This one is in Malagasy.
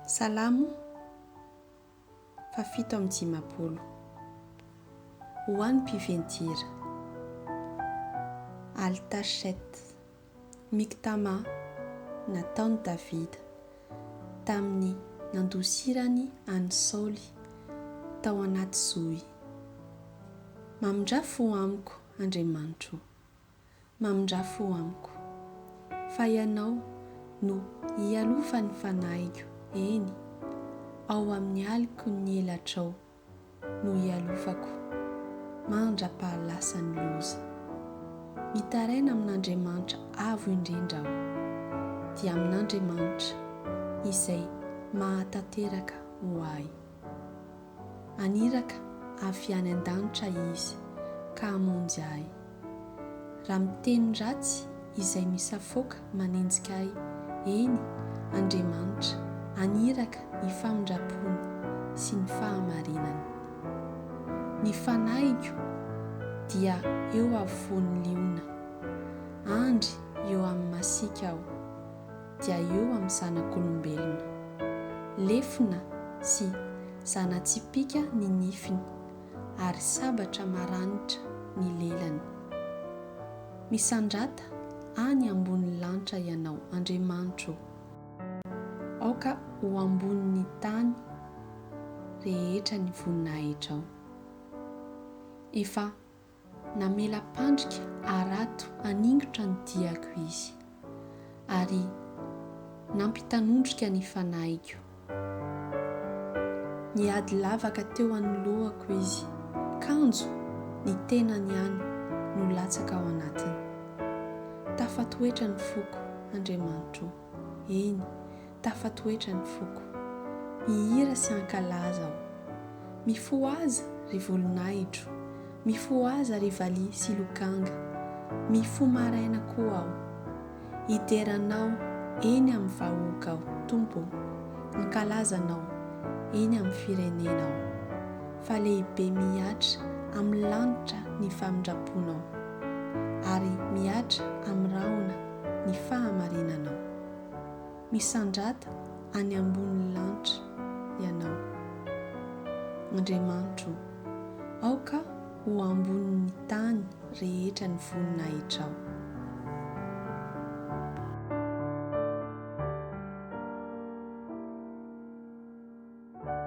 Salamo fahafito amby dimampolo. Ho an'ny mpiven-tira. Al-Tasheth. Miktama nataon'i Davida tamin'ny nandosirany an'i Saoly tao anaty zohy. Mamindrà fo amiko, Andriamanitro. mamindrà fo amiko. Fa Ianao no ialofan'ny fanahiko, eny, ao amin'ny aliko ny elatrao no ialofako mandra-pahalasan'ny loza. Mitaraina amin'Andriamanitra Avo Indrindra aho, dia amin'Andriamanitra izay mahatanteraka ho ahy. Haniraka avy any an-danitra Izy ka hamonjy ahy. Raha miteny ratsy izay misafoaka manenjika ahy, eny, Andriamanitra haniraka ny famindram-pony sy ny fahamarinany. Ny fanahiko dia eo afovoan'ny liona. Andry eo amin'ny masiaka aho. dia eo amin'ny zanak'olombelona. Lefona sy zana-tsipìka ny nifiny, ary sabatra maranitra ny lelany. Misandrata any ambonin'ny lanitra Ianao, Andriamanitro ô! Aoka ho ambonin'ny tany rehetra ny voninahitrao. Efa Namela pandrika harato haningotra ny diako izy, ary nampitanondrika ny fanahiko. Niady lavaka teo anoloako izy, kanjo ny tenany ihany no latsaka ao anatiny. Tafatoetra ny foko, Andriamanitro o! Eny, tafatoetra ny foko. Mihira sy hankalaza aho. Mifohaza, ry volon'ahitro, mifohaza ry valiha sy lokanga, mifo maraina koa aho. Hidera Anao eny amin'ny vahoaka aho, Tompo o, hankalaza Anao eny amin'ny firenena aho. Fa lehibe mihatra amin'ny lanitra ny famindram-ponao, ary mihatra amin'ny rahona. ny fahamarinanao. Misandrata any ambonin'ny lanitra ianao. Andriamanitro o, aoka ho ambonin'ny tany rehetra ny voninahitrao.